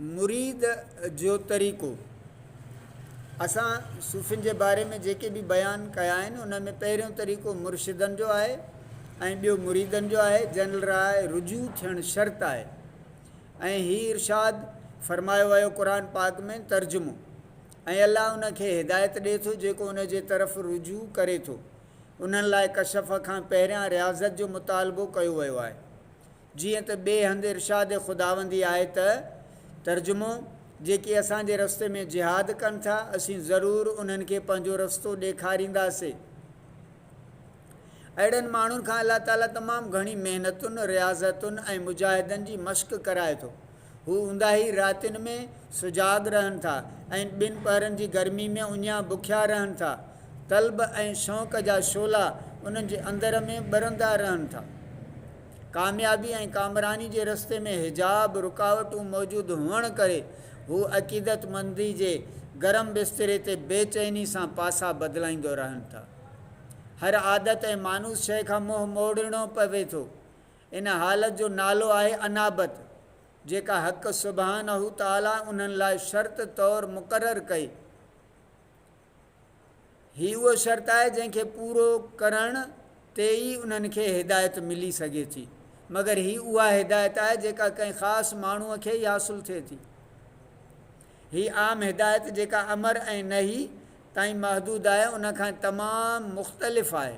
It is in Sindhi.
مريد جو طريقو، اسان صوفين جي باري ۾ جيڪي به بيان ڪيا آهن انهن ۾ پهريون طريقو مرشدن جو آهي ۽ ٻيو مريدن جو آهي جن لاء رجوع ٿيڻ شرط آهي ۽ هي ارشاد فرمايو ويو قرآن پاڪ ۾ ترجمو، ۽ الله ان کي هدايت ڏئي ٿو جيڪو ان جي طرف رجوع ڪري ٿو، انهن لاء ڪشف کان پهريان رياضت جو مطالبو ڪيو ويو آهي. جيئن ته ٻئي هنڌ ارشاد خداوندي آهي ته، ترجمو، جيڪي اسان جي رستي ۾ جهاد ڪن ٿا، اسين ضرور انهن کي پنهنجو رستو ڏيکارينداسين. اهڙن ماڻهن کان الله تعاليٰ تمام گهڻي محنتن، رياضتن ۽ مجاهدن جي مشق ڪرائي ٿو. هو اونداهي راتين ۾ سجاڳ رهن ٿا ۽ ٻن پهرن جي گرمي ۾ اڃان بکيا رهن ٿا. طلب ۽ شوق جا شعلا انهن جي اندر ۾ ٻرندا رهن ٿا. ڪاميابي ۽ ڪامراني جي رستي ۾ حجاب، رڪاوٽون، موجود هئڻ ڪري هو عقيدتمندي جي گرم بستري تي بي چيني سان پاسا بدلائيندو رهن ٿا. هر عادت ۽ مانوس شيء کان منهن موڙڻو پوي ٿو. ان حالت جو نالو آهي انابت، جيڪا حق سبحانه تعاليٰ انهن لاء شرط طور مقرر ڪئي. هي اهو شرط آهي جنهن کي پورو ڪرڻ تي ئي انهن کي هدايت ملي سگهي ٿي. مگر هي اها هدايت آهي جيڪا ڪنهن خاص ماڻهوء کي ئي حاصل ٿئي ٿي. هي عام هدايت جيڪا امر ۽ نهي تائين محدود آهي، ان کان تمام مختلف آهي.